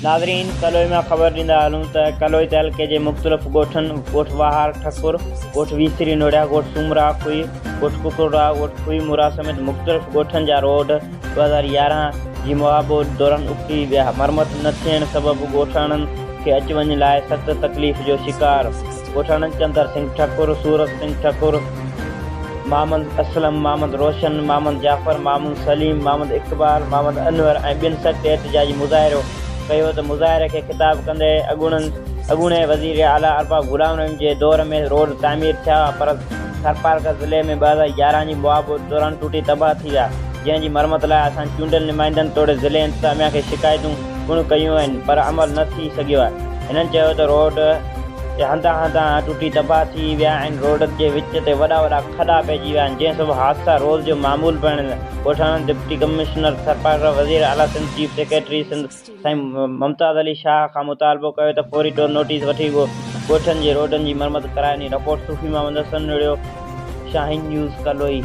ناظرين ڪلوئي مان خبر ڏيندا هلون ته ڪلوئي تعلقي جي مختلف ڳوٺن ڳوٺ واهار ٺڪر ڳوٺ ويسري نوڙيا ڳوٺ سومرا کوهي ڳوٺ ڪڪڙڙا ڳوٺ کوهي مورا سميت مختلف ڳوٺن جا روڊ ٻه هزار يارهن جي مهابوڏ دوران اکڙي ويا، مرمت نه ٿيڻ سبب ڳوٺاڻن کي اچ وڃ لاء سخت تڪليف جو شڪار ڳوٺاڻن چندر سنگهه ٺڪر، صورت سنگهه ٺڪر، محمد اسلم، محمد روشن، محمد جعفر، محمد سليم، محمد اقبال، محمد انور ۽ ٻين سخت احتجاجي مظاهرو ڪيو ته مظاهري کي خطاب ڪندي اڳوڻي وزير اعليٰ ارباب غلام رحيم جي دور ۾ روڊ تعمير ٿيا پر ٿرپارڪر ضلعي ۾ ٻه هزار يارهن جي موا ٻوڏ دوران ٽٽي تباهه ٿي ويا، جنهن جي مرمت لاء اسان چونڊيل نمائندن توڙي ضلعي انتظاميا کي شڪايتون پڻ ڪيون آهن پر عمل نه ٿي سگهيو آهي. هنن چيو ته روڊ تي هنڌان هنڌان ٽٽي تباهه ٿي ويا آهن، روڊ جي وچ تي وڏا وڏا کڏا پئجي ويا آهن، جنهن سبب حادثا روز جو معمول بڻيل آهن، ڳوٺاڻن ڊپٽي ڪمشنر ٿرپارڪر، وزير اعليٰ سنڌ، چيف سيڪريٽري سنڌ، سائين ممتاز علي شاهه کان مطالبو ڪيو ته فوري طور نوٽيس وٺي ڳوٺن جي روڊن جي مرمت ڪرائين، رپورٽ صوفي محمد حسن نڙيو، شاهين نيوز، ڪلوئي.